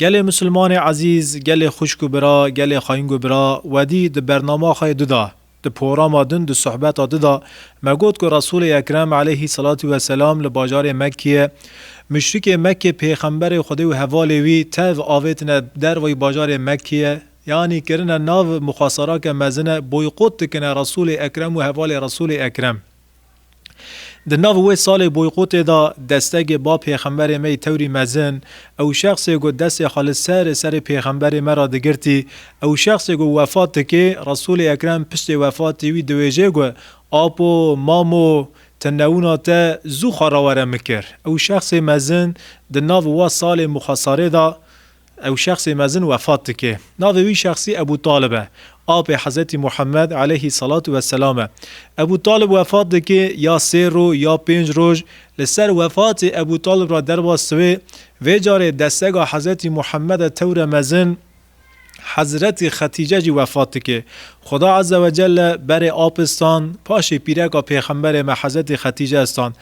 Gelê Musulmanê Ezîz, gelê xwişk û bira, gelê xaying û bira, wedî di bernama xwe yê di da, di porama din, di sohbeta di da me got ku Resûlê Ekrem eleyhî selatû we selam li bajarê Mekkeyê muşrikê Mekkê pêxemberê Xwedê û hevalê wî tev avêtine dervayî bajarê Mekkeyê yanî kirine nav muxasarake mezine boykot dikine Resûlê Ekrem û hevalê Resûlê Ekrem. Di nav wê salê boykotê de destegê ba pêxemberê me yê tewrî mezin, ew şexsê ku destê xwe li ser serê pêxemberê me re digirtî, ew şexsê ku wefat dike, Resûlê Ekrem piştê wefatê wî diwêje ku, Apo, mamo, ti newina te zû xwe re were min kir. Ew şexsê mezin di nav wa salê muxesarê de Ew şexsê mezin wefat dike. Navê wî şexsî Ebû Talib e. Apê Hezretî Muhammed aleyhî selatu ve selam e. Ebû Talib wefat dike ya sê rû ya pênc roj li ser wefatê Ebû Talib ra derva siwê vê carê destega Hezretî Muhammede tewre mezin Hezretî Xetîce jî wefat dike. Xuda Azze ve Celle berê apistan paşê pîreka pêxemberê me Hezretî Xetîce istan.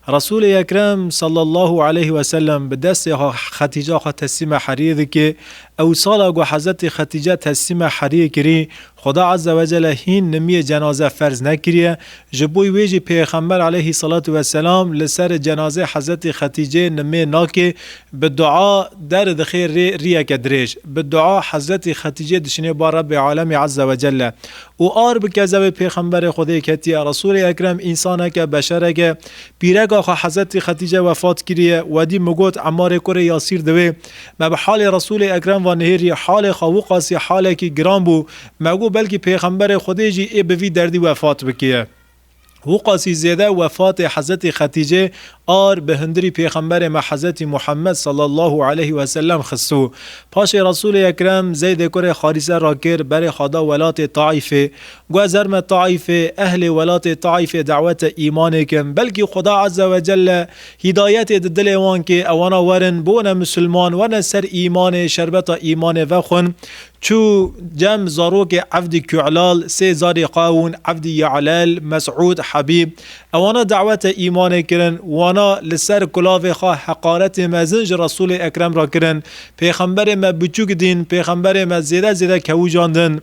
Resûlê Ekrem sallallahu aleyh ve sellem bi destê xwe Xetîca xwe teslîma Heriyê dike ew sala ku Hezretê Xetîce teslîma Heriyê kirî Xuda Azze ve Celle hîn nimiyê cenaze ferz nekiriye ji bo wê jî Pêxember aleyh salatu ve selam li ser cenazê Hezretê Xetîcê nimê nake bi dua derdixê rê riyeke dirêj bi dua Hezretê Xetîcê dişinê bar Rebê Alemî Azze ve Celle Û ar bi kezewê pêxemberê Xwedê ketiye. Resûlê Ekrem însaneke, beşerek, e. Pîreka xwe Hezretî Xetîce wefat kiriye. Wedî min got Emarê kurê Yasîr diwê. Me bi halê Resûlê Ekrem ve nihêrî. Halê xwe wixasî halekî giran bû. Me got belkî pêxemberê Xwedê jî ê bi vî derdî wefat bikiye. Wuqasî zêde wefatê Hezretî Xetîcê ar bi hundirî Pêxemberê me Hezretî Muhemmed sallallahu aleyh ve sellem xistû. Paşê Resûlê Ekrem Zeydê kurê Harîse ra kir berê xwe da welatê Taîfê. Got ez her me Taîfê, ehlê welatê Taîfê dawete îmanê kim. Belkî Xuda Ezze ve Celle hîdayetê di dilê wan kê, ewana werin, bone Musulman, werne ser îmanê, şerbeta îmanê vexwin. Çû cem zarokê Evdî Kuelal, sê zarê Qawûn, Evdî Yealel, Mesûd, Hebîb. Ewana dawete îmanê kirin. Wana li ser kulavê xwe heqaretê mezin ji Resûlê Ekrem re kirin. Pêxemberê me biçûk dîn, pêxemberê me zêde zêde kewûcandin.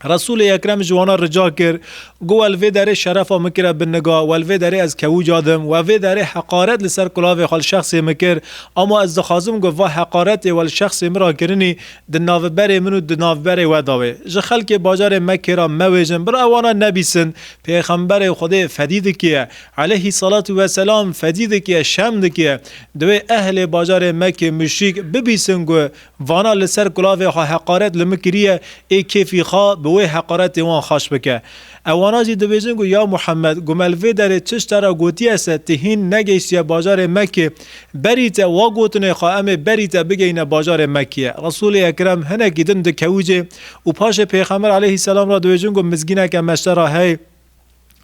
Resûlê Ekrem ji wana rica kir, Got we li vê derê şerefa min kire bin niga, we li vê derê ez kewûcadim, we vê derê heqaret li ser kulavê xwe li şexsê min kir, ama ez dixwazim got va heqaretê we li şexsê min re kirinî Di naviberê min û di naviberê we da wê. Ji xelkê bajarê Mekkê re mewêjin, bira wana nebîsin. Pêxemberê Xwedê fedî dikiye. Eleyhî selatû ve selam fedî dikiye, şerm dikiye. Divê ehlê bajarê Mekkê muşrîk bibîsin ku vana li ser kulavê xwe heqaret li min kiriye, ê kêfî xwe bi wê heqaretê wan xweş bike. Ewana jî dibêjin ku ya Muhemed, guma li vê derê çi şte re gotiye se, tu hîn negehîştiye bajarê Mekê, berî te wa gotinê xwe emê berî te bigeyîne bajarê Mekê. Resûlê Ekrem hinekî din dikewicê û paşê pêxember aleyhîsselam re dibêjin ku mizgîneke meşte re hey.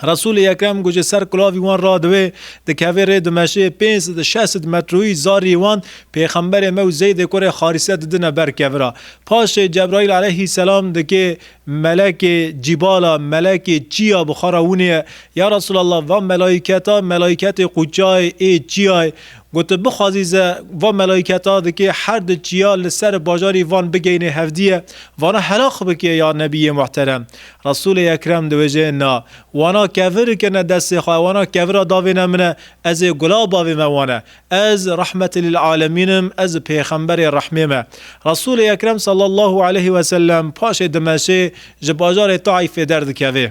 Resûlê Ekrem ku ji ser kulavî wan radiwê, dikevê rê di meşê pênc sed şeş sed metroyî zarî wan pêxemberê me û Zeydê kurê Xarîse didine ber kevira. Paşê Cebraîl aleyhîsselam dikê Melekê cîbala melekê çiya bi xwe re hûnê ya Resûlallah va melaîketa melaîketê qûçayê ê çiyayê gote bixwazî ze va melaîketa dikê her di çiya li ser bajarî van bigeyne hevdîye vana helaq bike ya Nebîyê muhterem Resûlê ekrem di wêjeyê na wana kevir kene destê xwe wana kevira davêne min e ez ê gula bavê me wane Ez rehmetê lil alemîn im, ez pêxemberê rehmê me. Resûlê Ekrem sallallahu aleyhi ve sellem paşê Dimeşê ji bajarê Taîfê derdikevê.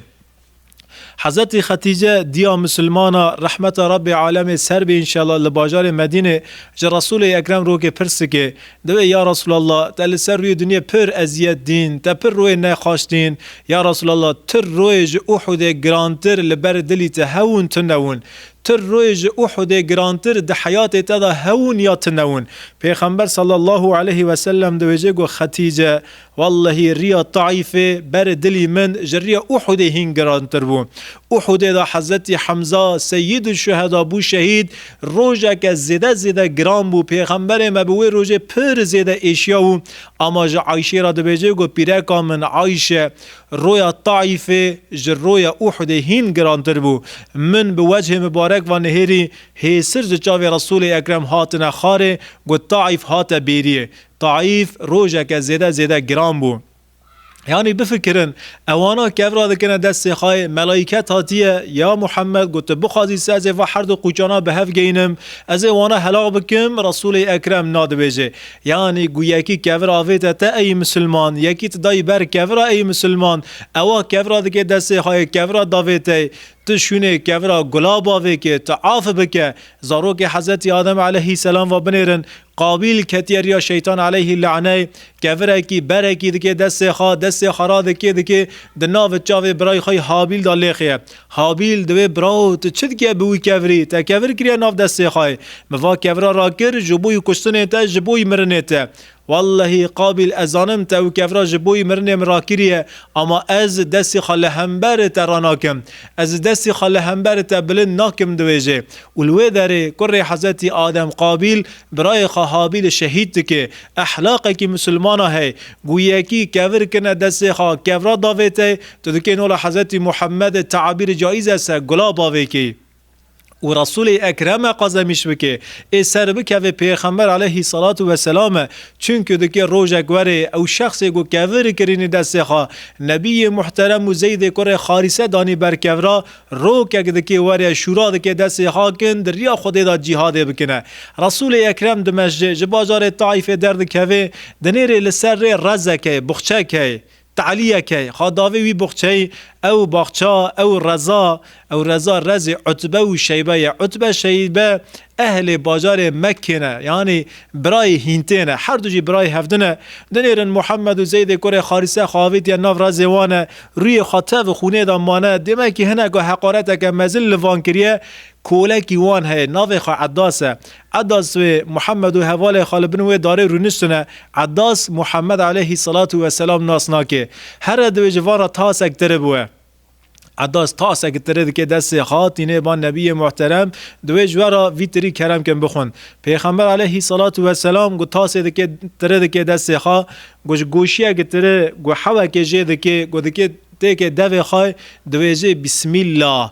Hezretî Xetîce diya misilman a, rehmeta Rabbê alemê ser be înşela li bajarê Medînê ji Resûlê Ekrem rokê pirs dike, diwê ya Resûlallah te li ser rûyê dinyê pir eziyet dîn, te pir royê nexaş dîn, ya Resûlallah tu royê ji Uhûdê girantir li ber dilî te hewûn tu newûn, Tu rûyê ji Uhudê girantir di heyatê te de hewûn ya tu newûn. Pêxember sallallahu aleyhi ve sellem diwêjê got Xetîce, Wellehî riya Taîfê berê dilî min ji riya Uhudê hîn girantir bû. Uhudê de Hezretî Hemza Seyyîdûşşuheda bû şehîd, rojeke zêde zêde giran bû. Pêxemberê me bi wê rojê pir zêde êşiya û ama ji Ayşê re dibêjê got Pîreka min Ayşe, Roya Taîfê ji roya Uhudê hîn girantir bû. Min bi wecihê mibarek ve nihêrî, hêsir ji çavê Resûlê Ekrem hatine xarê, got Taîf hate bêriyê. Taîf rojeke zêde zêde giran bû. Yanî bifikirin, ewana kevra dikine dest sêxayê, melaîket hatiye, Ya Muhammed, got tu bixwazî se ez ê va herdu qûçana bi hev geynim, ez ê wana helax bikim, Resûlê Ekrem nadibêje. Yanî ku yekî kevir avête te ey misilman, yekî tu dayî ber kevira ey misilman, ewa kevira dike destê xweyê kevira davê te yê. Tu şûnê kevira gula bavê kê, tu afi bike. Zarokê Hezretî Adem eleyhî selam va binêrin, Qabîl ketiye riya Şeytan eleyhî le'neyê, kevirekî, berekî dike destê xwe, destê xwe radikê dikê, di navi çavê birayê xwe yê Habîl de lêxîye. Habîl di wê bira û tu çi dikê bi wî kevirî? Te kevir kiriye nav destê xwe. Min va kevira rakir ji bo wî kuştinê te, ji bo wî mirinê te. Wellehî Qabîl ez zanim te wî kevira ji bo wî mirinê min rakiriye, ama ez destê xwe li hemberê te ranakim. Ez destê xwe li hemberê te bilind nakim diwêjê. Û li wê derê kurê Hezretî Adem Qabîl birayê xwe Habîlê şehîd dike. Ehlaqekî misilmana hey. Guyekî kevir kirine destê xwe, kevira davêtey, Tu dikê nola Hezretî Muhammedê teabîrê caîz e se gula bavê kê û Resûlê Ekreme qazemîş bikê, ê ser bikevê Pêxember aleyhî selatû weselame, çunku dikê rojek were ew şexsê ku kevir kirînî destê xwe, Nebîyê Muhterem û Zeydê kurê Xarîse danî ber kevra, rokek dikê were şûra dikê destê xakin di riya Xwedê de cîhadê bikine. Resûlê Ekrem Dimeşcê ji bajarê Taîfê derdikevê, di nêrê li ser rê rezek hey, buxçek hey, Ti Eliyê key, xa davê wî buxçeyî, ew baxça, ew reza, ew reza rezê Utbe û Şeybe ye. Utbe, Şeybe ehlê bajarê Mekkê ne, yanî birayê hîntê ne. Her du jî birayê hevdin e. Dinêrin Muhammed û Zeydê kurê Harise xwe avêtiye nav rezê wan e. Rûyê xwe tev û xûnê de mane. Dêmekî hineka heqareteke mezin li van kiriye. Kolekî wan heye, navê xwe Eddas e. Edas wê Muhammed û hevalê xwe li bin wê darê rûniştine Edas Muhammed aleyhî selatû we selam nas nake. Here divê ji van re tasek tire biwe. Edas tasek tire dike destê xwe tîne ba Nebiyê Muhterem, divê ji we re vî tirî kerem kin bixwin. Pêxember aleyhî selatû we selam got tasê dike tire dike destê xwe, got ji goşiyeke tire, got hewekê jê dike, got dike têkê devê xwe, divêjê Bismillah,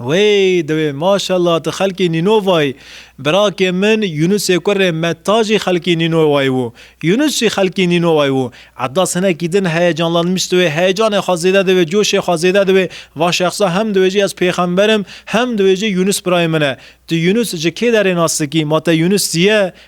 Wey dewê maşallah tu xelkê Nînovayî. Birakê min Yunusê kurê me ta jî xelkê Nînovayî bû. Yunus jî xelkê Nînovayî bû. Edas hinekî din heyecanlanmiş diwê, heyecanê xwe zêde diwê, coşê xwe zêde diwê. Va şexsa hem diwê jî ez pêxember im, hem diwê jî Yunus birayê min e. Tu Yunus ji kê derê nas dikî? Ma te Yunus zîye?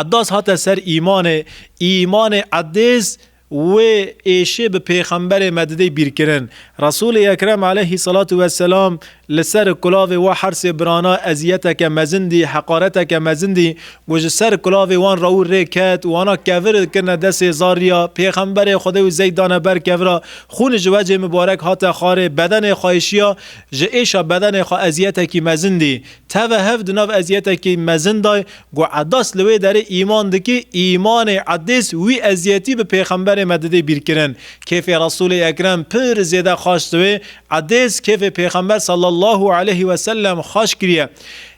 Eddaz hate ser îmanê, îmanê Eddêz wê êşê bi pêxemberê me didê bîrkirin. Resûlê Ekrem aleyhî selatu we selam li ser kulavê wa hersê birana eziyeteke mezin dî, heqareteke mezin dî ku ji ser kulavê wan re û rê ket, wana kevir kirine desê zarrîya, pêxemberê Xwedê û zey dane ber kevira, xûn ji wecê mibarek hate xarê, bedenê xwe êşiya, ji êşa bedenê xwe eziyetekî mezin dî. Teve hev di nav eziyetekî mezin de ye ku Edas li wê derê îman dike, îmanê Edês wî eziyetî bi pêxemberê me didê bîrkirin. Kêfê Resûlê Ekrem pir zêde xweş dibe. Edês kêfê pêxember sallallahu aleyh we sellem xweş kiriye.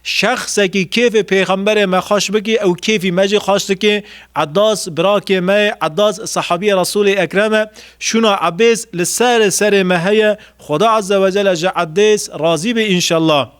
Şexsekî kêfê pêxemberê me xweş bike ew kêfî me jî xweş dike. Edas birakê me ye, Edas sehabiyê Resûlê Ekrem e. Şûna Ebês li ser serê me heye. Xuda Azze wecel ji Edês razî be înşellah.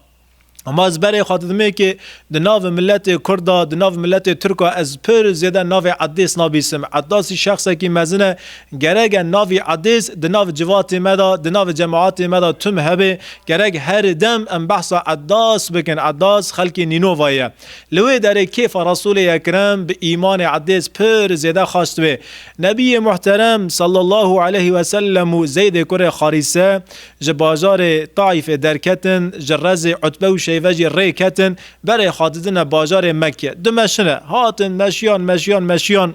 Ama ez berê xwe didimê ki di navê miletê Kurd de, di navê miletê Tirk de ez pir zêde navê Eddês nabîsim. Eddasî şexsekî mezin e. Gerek e navî Eddês di nav civatê me de, di nav cemaetê me de tim hebe. Gerek her dem em behsa Eddas bikin. Eddas xelkê Nînovayê ye. Li wê derê kêfa Resûlê Ekrem bi îmanê Eddês pir zêde xast wê. Nebiyê Muhterem, Sallallahu Aleyhi Wesellem û Zeydê kurê Xarîse Ji bajarê Taîfê derketin, ji Rezê Utbe û Şeyve jî rê ketin, berê xwedidine bajarê Mekke. Du meşine, hatin, meşiyan, meşiyan, meşiyan,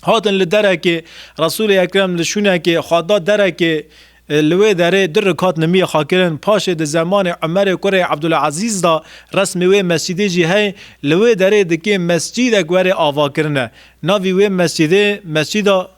hatin li derekê, Resûlê Ekrem li şûnekê xwe da derekê, li wê derê du rikat nimiyê xwe kirin, paşê di zemanê Umerê kurê Ebdulezîz da, resmê wê mescidê jî heye, li wê derê dikê mescidek werê avakirine. Navî wê mescidê, Mescida.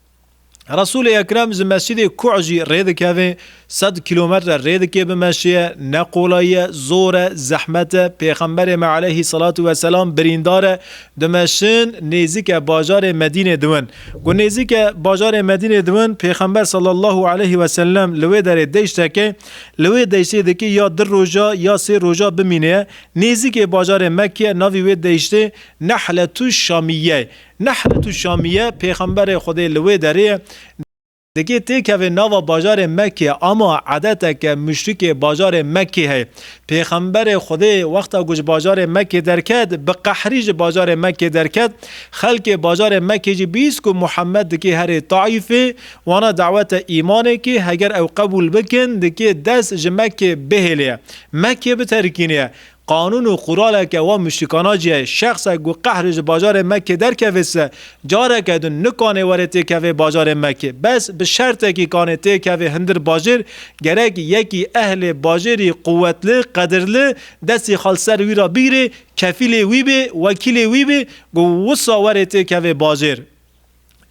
Resûlê Ekrem ji Mescîdê Kuh jî rê dikeve, sed kîlometre rê dike bi meşiye, ne qolay ye, zor e, zehmet e, Pêxemberê me aleyhî selatû ve selam birîndar e, dimeşin nêzîke bajarê Medînê diwin. Ku nêzîke bajarê Medînê diwin, Pêxember sallallahu aleyhî ve sellem li wê derê deşt heke, li wê deştê dikê ya du roja ya sê roja bimîne, nêzîkê bajarê Mekke navî wê deştê Nehletû Şamîyye ye. Nehlet û Şamiye, Pêxemberê Xwedê li wê derê dikê têkeve nava bajarê Mekkê ama edeteke muşrikê bajarê Mekkê heye. Pêxemberê Xwedê wexta ku ji bajarê Mekkê derket bi qehrî ji bajarê Mekkê derket, xelkê bajarê Mekkê jî bîst ku Muhemed dikê herê Taîfê wana dawete îmanê kê heger ew qebûl bikin dikê dest ji Mekkê bihêlê Mekkê biterkînê Qanûn û quraleke wa muşrîkana jî heye. Şexsek ku qehrê ji bajarê Mekkê derkeve se, careke din nikanê were têkeve bajarê Mekkê. Bes bi şertekî kanê têkeve hindir bajêr, gerek yekî ehlê bajêrî quwetli, qedirli, destê xwe li ser wî re bigirê, kefîlê wî bê, wekîlê wî bê ku wisa were têkeve bajêr.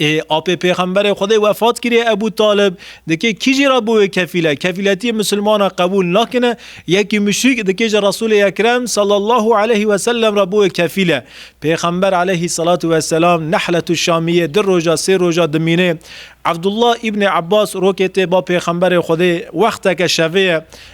Ê apê Pêxemberê Xwedê wefat kiriye Ebû Talib dikê kî jî re bû wê kefîl e? Kefîletiyê misilmana qebûl nakine, yekî muşrîk dikê ji Resûlê Ekrem sallallahu aleyhî weselem re bû wê kefîl e. Pêxember aleyhî selatu weselam Nehletû Şamiyê du roja sê roja dimînê. Evdullah îbnê Ebas rokê tê ba Pêxemberê Xwedê wexteke şevê ye.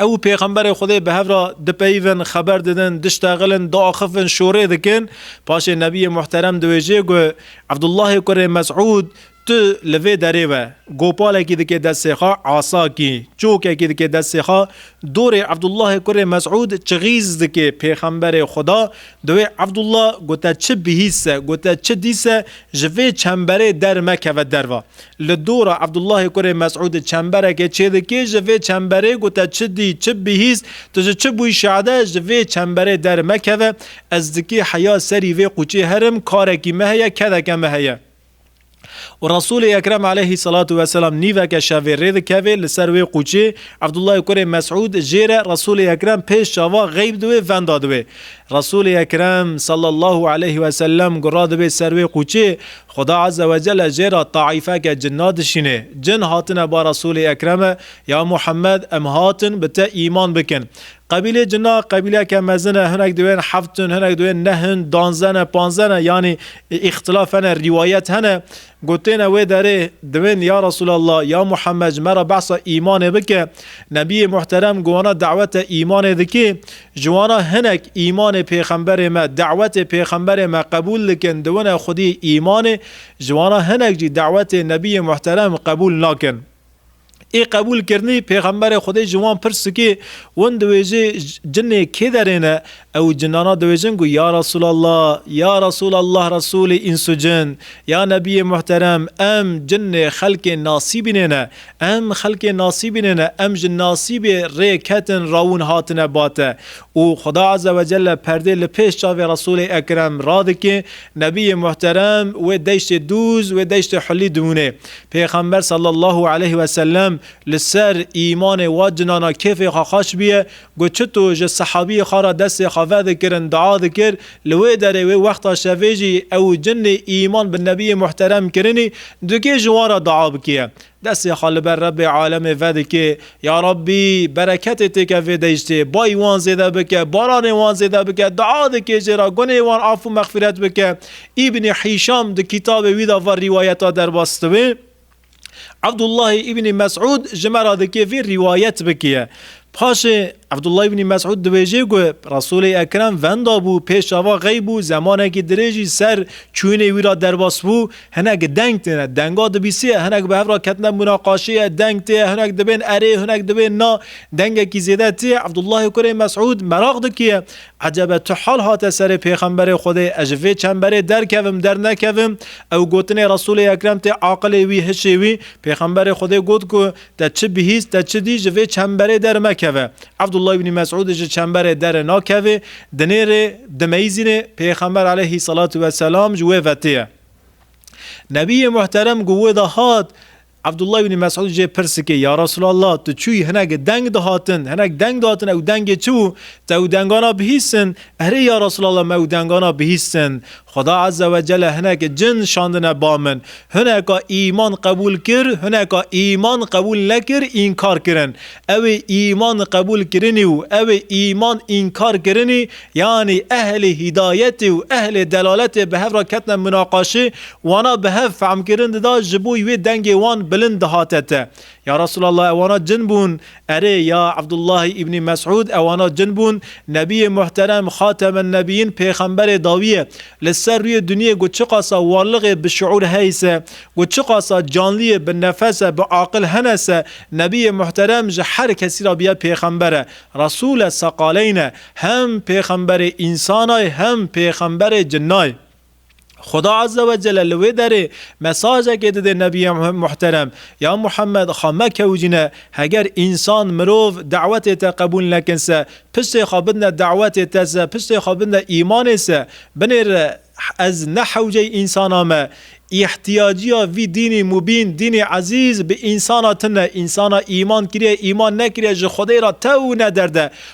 Ew û Pêxemberê Xwedê bi hev re dipeyivin, xeber didin, diştexilin, diaxifin, şorê dikin. Paşê Nebiyê Muhterem diwêjê got, Ebdullahê kurê Mesûd, tu li vê derê be. Gopalekî dike destê xwe, asakî, çokekî dike destê xwe, dorê Ebdullahê kurê Mesûd çixîz dike. Pêxemberê Xweda di wê Ebdullah got, te çi bihîst se, got, te çi dîst se, ji vê çemberê dermekeve derve. Li dora Ebdullahê kurê Mesûdê çemberekê çêdikê ji vê çemberê got te çi dî, çi bihîst, tu ji çi bûyî şade ji vê çemberê dermekeve, ez dikê heya serî vê quçê herim, karekî me heye, kedeke me heye. Û Resûlê Ekrem aleyhî selatu weselam nîveke şevê rê dikevê li ser wê quçê, Ebdullahê kurê Mesûd jê re Resûlê Ekrem pêş çavan xeyb di wê venda di wê. Resûlê Ekrem sallallahu aleyhî weselem gura di wê ser wê quçê, Xuda Azze ve Celle jê re taîfeke cinna dişînê. Cin hatine ba Resûlê Ekreme, Ya Muhemmed, em hatin bi te îman bikin. Qebîlê cinna qebîleke mezin e, hinek diwên heft in, hinek diwên neh in, danze ne, panze ne, yanî îxtilaf hene, rîwayet hene. Gotêne wê derê, diwên Ya Resûlallah, Ya Muhemmed ji me re behsa îmanê bike. Nebiyê Muhterem guhana dawete îmanê dikê. Ji wan re hinek îmanê pêxemberê me, dawetê pêxemberê me qebûl dikin, diwine xwedî îmanê, ji wan re hinek jî dawetê nebiyê muhterem qebûl nakin. Ê qebûl kirinî pêxemberê xwedê ji wan pirs dike, win diwêje cinê kê derê ne? Ew cinana diwêjin ku ya Resûlallah, ya Resûlallah Resûlê îns û cin, ya nebiyê muhterem em cinê xelkê nasîbînê ne, Em xelkê nasîbînê ne, em ji nasîbê rê ketin rawûn hatine bate û Xuda Azze ve Celle perdê li pêş çavê Resûlê Ekrem radike, Nebiyê Muhterem wê deştê dûz, wê deştê hulî dimûne. Pêxember Sallallahu Aleyh ve Sellem li ser îmanê wa cinana kêfê xwe xweş biye got, Çito ji sehabiyê xwe re destê xwe vedikirin dua dikir, li wê derê wê wexta şevê jî ew cinê îman bi Nebiyê Muhterem kirinî, dikê ji wan re dua bike. Destê xwe li ber Rebbê alemê vedike, Ya Rebbî! Bereketê têke vê deştê, bayî wan zêde bike, baranê wan zêde bike, dua dike jê re gunê wan af û mexfîret bike. Îbnî Hîşam di kîtabê wî de van rîwayeta derbas dibe. Ebdullahî Îbnî Mesûd ji me re dike vê rîwayet bike. Paşê Abdullah ibnî Mesûd dibêje ku Resûlê Ekrem venda bû pêş ava xeyb û zemanekî dirêj î ser çûyînê wî ra derbas bû, hinek deng têne, denga dibîsiye, hinek bi hev ra ketine munaqaşeyê, deng tê, hinek dibên erê, hinek dibên na, dengekî zêde tê, Abdullahê kurê Mesûd meraq dikiye, Ecebe tu hal hate serê Pêxemberê Xwedê, ez ji vê çemberê derkevim, dernekevim? Ew gotinê Resûlê Ekrem tê aqilê wî, hişê wî, Pêxemberê Xwedê got ku, Te çi bihîst, te çi dî, ji vê çemberê dermekeve. Evdullah Îbnî Mesûdî ji çemberê derê nakevê, di nêrê dimeyzînê, Pêxember aleyhî selatû ve selam ji wê vetê ye. Nebîyê Muhterem ku wê de hat, Evdullah Îbnî Mesûdî jê pirs dike, Ya Resûlallah, tu çûyî hinek deng dihatin, hinek deng dihatin, ew dengê çi bû? Te ew dengana bihîstin? Erê ya Resûlallah me ew dengana bihîstin. Xweda Eze we Cele hinek cin şandine ba min. Hineka îman qebûl kir, hineka îman qebûl nekir, înkar kirin. Ewê îman qebûl kirinî û ewê îman înkar kirinî, yanî ehlê hîdayetê û ehlê delaletê bi hev re ketine munaqaşê, wana bi hev fehmkirin dida, ji bo wê dengê wan bilind dihate te. Ya Resûlallah ewana cin bûn? Erê, ya Ebdullahî Îbnî Mesûd ewana cin bûn? Nebîyê muhterem, Xatemennebiyin pêxemberê dawiye li ser rûyê dinyê ku çiqasa warliqê bi şiûr hey se, ku çiqasa canliyê bi nefes e, bi aqil hene se, Nebîyê muhterem ji her kesî re biye pêxember e. Resûl e seqaleyn e. Hem pêxemberê însanay hem pêxemberê cinnay. Xuda Azze ve Celle li wê derê mesajekê dide Nebiyê Muhterem ya Muhammed xwe mekewcîne, heger însan, mirov, dawetê te qebûl nekin se, piştê xwe bidne dawetê te se, piştê xwe bidne îmanê se, binêre ez ne hewceyî însanan me, îhtîyacîya vî dînî mubîn, dînî ezîz bi însana tune, însana îman kiriye, îman nekiriye ji Xwedê re tewne derde,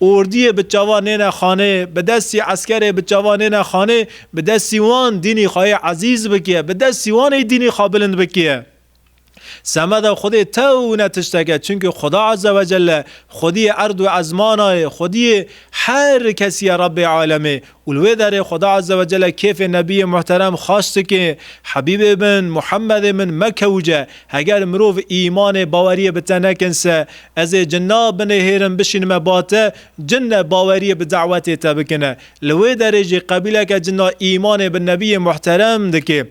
Ordiyê bi çavan nêne xanê, bi destî eskerê bi çavan nêne xanê, bi destî wan dînî xwe yê ezîz bikîye, bi destî wan ê dînî xwe bilind bikîye. Semeda Xwedê tewne tişteke, çimkî Xuda Azze Wecelle, Xwediyê erd û ezmana yê, Xwediyê her kesî ye Rebbê Alemê Û li wê derê Xweda Ezze Wecelle kêfê Nebiyê Muhterem xweş dike, Hebîbê min, Muhemedê min mekewce, heger mirov îmanê baweriyê bi te nekin se, ez ê cinna binêhêrim bişînime ba te, cin ne baweriyê bi dawetê te bikine. Li wê derê jî qebîleke cinna îmanê bi Nebiyê Muhterem dike.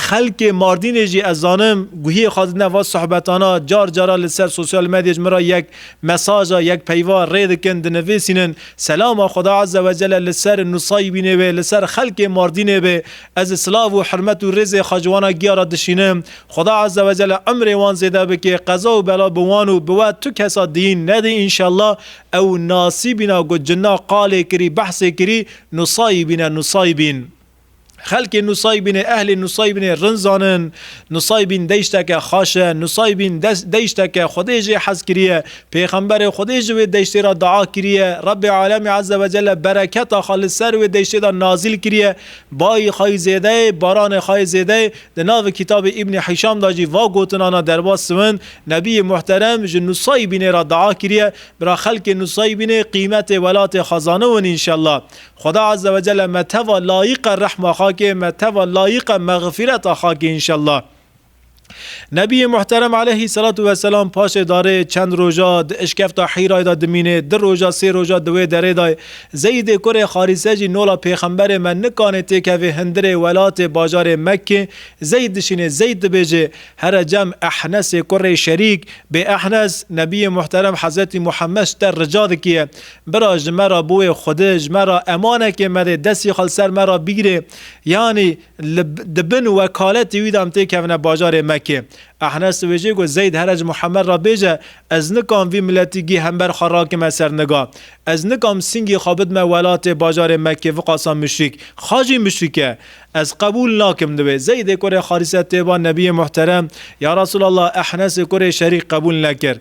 Xelkê Mardînê jî ez zanim guhiyê xwe didine va sohbetana, car cara li ser sosyal medyê ji min re yek mesaja, yek peyva rê dikin, dinivîsînin Selama Xweda Eze Wecele li ser nusayîbînê wê, li ser xelkê Mardînê be. Ez silav û hirmet û rêzê xwe ji wana giya re dişînim. Xweda Eze Wecele imrê wan zêde bike, qeza û bela bi wan û bi we tu kesa diyîn nede înşellah. Ew nasîbîna ku cinna qalê kirî, behsê kirî, nusayîbîne, nusayîbîn. Xelkê Nusaybînê, ehlê Nusaybînê rind zanin. Nusaybîn deşteke xaş e. Nusaybîn deşteke Xwedê jê hez kiriye. Pêxemberê Xwedê ji wê deştê re dua kiriye. Rebbê Alemî Eze Wecelle bereketa xwe li ser wê deştê de nazîl kiriye. Bayî xwe yî zêde ye, baranê xwe yê zêde ye. Di navê Kitabê Îbnî Hîşam de jî va gotinan e derbas siwind, Nebîyê Muhterem ji Nusaybînê re dua kiriye, bira xelkê Nusaybînê qîmetê welatê xwe zaniwin înşellah. Xweda azze ve celle me teva layiqa rehma xakê me teva layiqa mexfireta xakê inşallah. Nebiyê muhterem aleyhî selatu weselam paşê darê çend roja di işkefta Hîrayê de dimînê, di roja sê roja di wê derê de ye. Zeyîdê kurê Harîse jî nola pêxemberê me nikanê têkevê hindirê welatê bajarê Mekkê Zeyd dişînê Zeyd dibêjê here cem Ehnesê kurê Şerîk bê Ehnes Nebiyê muhterem Hezretî Muhemmed ji te rica dikiye Bira ji me re bûye xwedi, ji me re emanekê mede, destê xwe li ser me re bigirê. Yanî li di bin wekaletê wî de em tê kevine bajarê Mekê. Ehnes li wê jê got, Zeyd here ji Muhemed re bêje, Ez nikam vî miletî gih hember xwe rakime ser niga. Ez nikam singê xwe bidime welatê bajarê Mekê viqasa muşrîk. Xa jî muşrîk e. Ez qebûl nakim li wê. Zeydê kurê Harise tê ba Nebiyê Muhterem, Ya Resûlallah, Ehnesê kurê Şerîk qebûl nekir.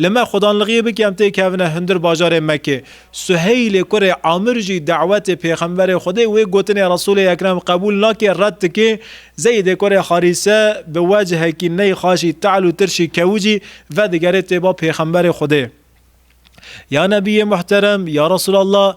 Li me xwedanlixiyê bi kem tê kevine hundir bajarê Mekê. Suheylê kurê Amir jî dawetê pêxemberê Xwedê wê gotinê Resûlê Ekrem qebûl nake red dike, Zeydê kurê Harîse bi wecihekî ney xaşî te'l û tirşî kewicî vedigere têba pêxemberê Xwedê. Ya Nebiyê Muhterem, ya Resûlallah,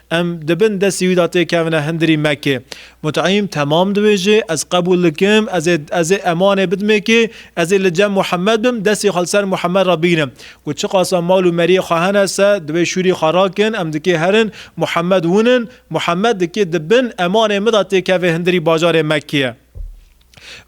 Em di bin destê wî de tê kevine hindirî Mekkê. Mut'îm, Temam dibêje, ez qebûl dikim, ez ê ez ê emanê bidim ê kê, ez ê li cem Muhemmed bim, destê xwe li ser Muhemmed re bînim. Ku çiqasa mal û meriyê xwe hene se, divê şûrî xwe rakin, em di kê herin, Muhemmed wûnin, Muhemmed di kê di bin emanê min de tê kevê hindirî bajarê Mekkê ye.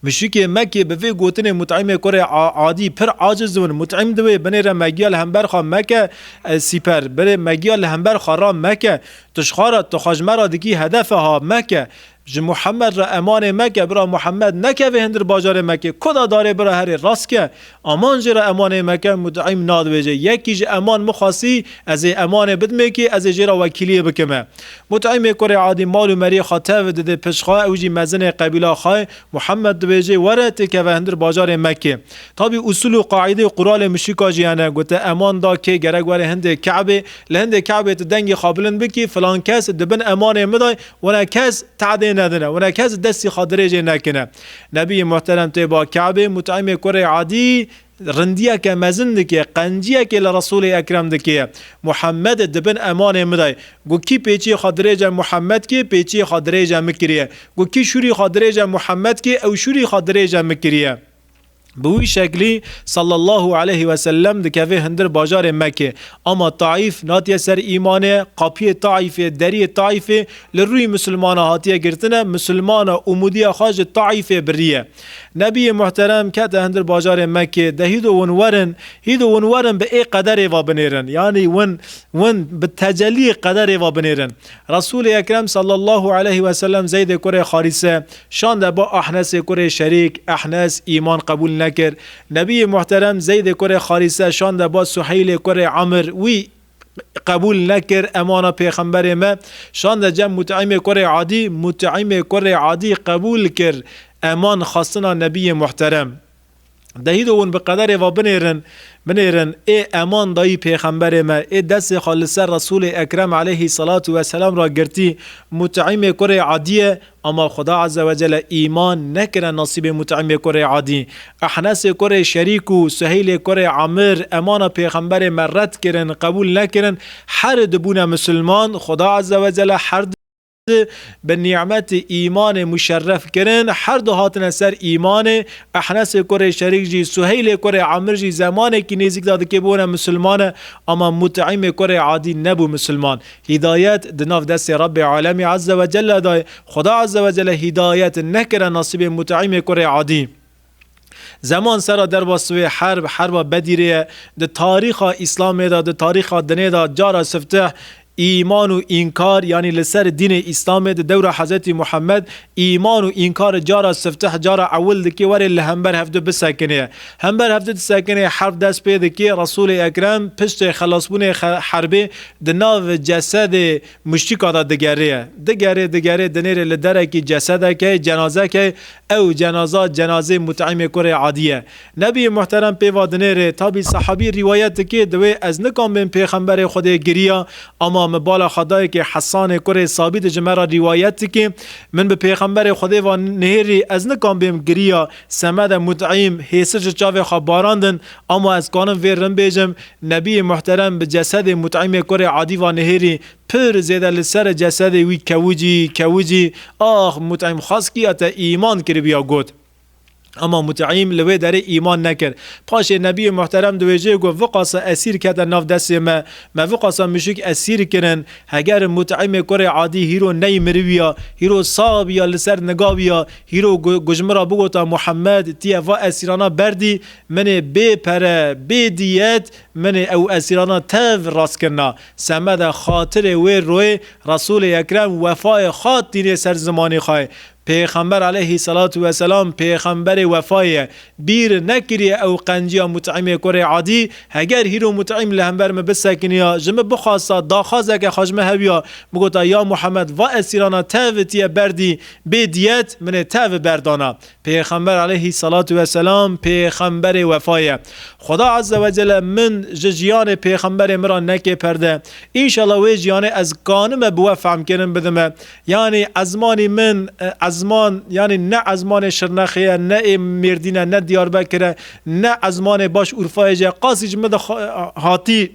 Muşikê Mekê bi vê gotinê Mut'imê kurê Adî pir aciz win. Mut'im diwê binê re megiya li hember xwe meke Ez sîper binê megiya li hember xwe ra meke Tu ji xwe re tu xwe ji me re dikî hedefe ha meke Ji Muhemed re emanê meke bira Muhemed nekeve hindir bajarê Mekê Koda darê bira herê rastke Aman jê re emanê meke mut'im nadibêje. Yekî ji Aman mixwasî, Ez ê emanê bidimêkî, ez ê jê re wekîliyê bikim e. Mut'imê kurê Adî mal û meriyê xwe tev dide pişt xwe, ew jî mezinê qebîla xwe ye. Muhammed dibêje, Were tu keve hundir bajarê Mekê. Tabî usûl û qaîde û quralê muşrîka jî hene. Gote Aman da kê gerek were hindê Kabê. Li hindê Kabê tu dengê xwe bilind bikî, filan kes di bin emanê min de ye, wina kes tehdê nedine, wina kes destî xwe dirêjê nekine. Nebiyê Muhterem tê ba Kabê Mut'imê kurê Adî rindiyeke mezin dike, qenciyekê li Resûlê Ekrem dike. Muhemmed di bin emanê min de. Got kî pêçiyê xwe dirêje Muhemmed kê, pêçiyê xwe dirêje min kiriye. Got kî şûrî xwe dirêje Muhemmed kê, ew şûrî xwe dirêje min kiriye. Bi wî şeklî Sallallahu aleyhi ve sellem dikeve hundir bajarê Mekê. Ama Taîf natiye ser îmanê, qapiyê Taîfê, deriyê Taîfê li rûyî misilmana hatiye girtine, misilmana umûdiya xwe ji Taîfê biriye. Nebiyê muhterem kete hundir bajarê Mekê, de hîdo win werin, hîdo win werin bi ê qederê ve binêrin, yanî win win bi teceliyê qederê ve binêrin. Resûlê Ekrem Sallallahu aleyhi ve sellem Zeydê kurê Xarîse, Şande ba Ehnesê kurê Şerîk, Ehnes, îman qebûl nekir. Nebiyê Muhterem Zeydê kurê Xarîse şande ba Suheylê kurê Amr, wî qebûl nekir, emana pêxemberê me, şande cem Mut'imê kurê Adî, Mut'imê kurê Adî qebûl kir, eman xastina Nebiyê Muhterem. Dehî do hûn bi qederê ve binêrin, binêrin, ê eman dayî pêxemberê me, ê destê xwe li ser Resûlê Ekrem aleyhî selatû ve selam re girtî, Mut'îmê kurê Edîye, ama Xweda Ezze ve Celle îman nekirine nasîbê Mut'îmê kurê Edî. Ehnesê kurê Şerîk û Suheylê kurê Emir emana pêxemberê me red kirin, qebûl nekirin, her du bûne misilman, Xweda Ezze ve Celle her bi nî'metê îmanê muşerref kirin, her du hatine ser îmanê, Ehnesê kurê Şerîk jî, Suheylê kurê Amir jî zemanekî nêzîk de di ke bûne musulmane, ama Mut'îmê kurê Adî nebû musulman. Hîdayet di nav destê Rabbê Alemî Ezzewecelle de ye. Xuda Ezzewecelle hîdayet nekire nasîbê Mut'îmê kurê Adî. Zeman sera derva siwê herb, herba Bedîrê ye. Di tarîxa Îslamê de, di tarîxa dinê de cara sifteh îman û înkar yanî li ser dînê Îslamê di dewra Hezretî Muhammed îman û înkar cara sifteh cara ewil dikê were li hember hevdu bisekinê. Hember hevdu disekinê herb dest pê dikê Resûlê Ekrem piştê xelasbûnê herbê di nav cesedê Muştika da digerê, digerê, digerê dinêrê li derekî cesedekê, cenazekê, ew cenaza cenazê Mut'imê kurê Adî ye. Nebîyê Muhterem pê va dinêrê, tabî sahabî rîwayet dike, di wê ez nikan bên pêxemberê Xwedê giriya, ama mi bala xwe daye kê Hesanê kurê Sabît ji me ra rîwayet dike, min bi pêxemberê Xwedê va nihêrî ez nikan bêm giriya, semede Mut'im hêsir ji çavê xwe barandin, Ama ez kanim vê rin bêjim, Nebiyê Muhterem bi cesedê Mut'imê kurê Adî va nihêrî, pir zêde li ser cesedê wî kewicî, kewicî, ax Mut'im xweskîya te îman kiribîya got. Ama Mut'im li wê derê îman nekir. Paşê Nebiyê Muhterem di wê jê got, Viqasa esîr kete nav destê me, me viqasa muşik esîr kirin, heger Mut'imê kurê Adî hîro ney mirivîya, hîro sax bîya li ser nigavîya, hîro ku ji min ra bigota Muhammed, tî ye va esîrana berdî, Menê bê pere, bê diyet, menê ew esîrana tev rast kirina. Semeda xatirê wê royê Resûlê Ekrem wefayê xwe tînê ser zimanê xwe. Pêxember aleyhî selatû weselam pêxemberê wefayê ye. Bîr nekiriye ew qenciya Mut'îmê kurê Adî, heger hîro Mut'îm li hember min bisekiniya, ji min bixwasta, daxwazeke xwe ji min heviya, bigota, Ya Muhammed, va esîrana tev ti ye berdî, bê diyet, minê tev berdana. Pêxember aleyhî selatu weselam pêxemberê wefa ye. Xweda azze ve celle min ji jiyanê pêxemberê min ra neke perde. Înşallah wê jiyanê ez kanime bi we fehmkirin bidime. Yanî ezmanî min ezman yanî ne ezmanê Şirnexê ye, ne ê Mêrdîn e, ne Diyarbekir e, ne ezmanê Baş Urfayê jî ye. Qasî ji min de hatî.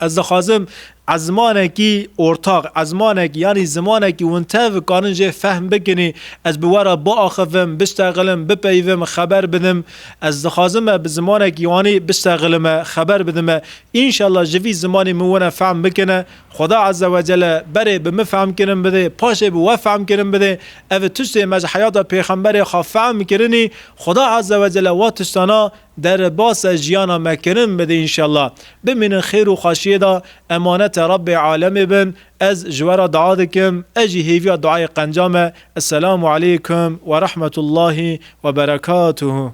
Ez dixwazim ezmanekî ortaq, ezmanek yanî zimanekî winter vikarin jê fehm bikin ê. Ez bi we re biaxivim, biştexilim, bipeyivim, xeber bidim. Ez dixwazim me bi zimanekî wanî biştexilim e, xeber bidim e. Înşellah ji vî zimanî min wina fehm bikine. Xweda Eze Wecele berê bi min fehmkirin bidê, paşê bi we fehmkirin bidê. Ev tiştê me ji heyata pêxemberê xwe fehm kirinî. Xweda Eze Wecele wa tiştana Derbasa jiyana me kirin bidê înşellah. Bimînin xêr û xweşiyê de emanete Rabbê alemê bin. Ez ji we re dua dikim, ez jî hêviya duayê qenca me. Esselamu aleykum werahmetullahî weberekatuhu.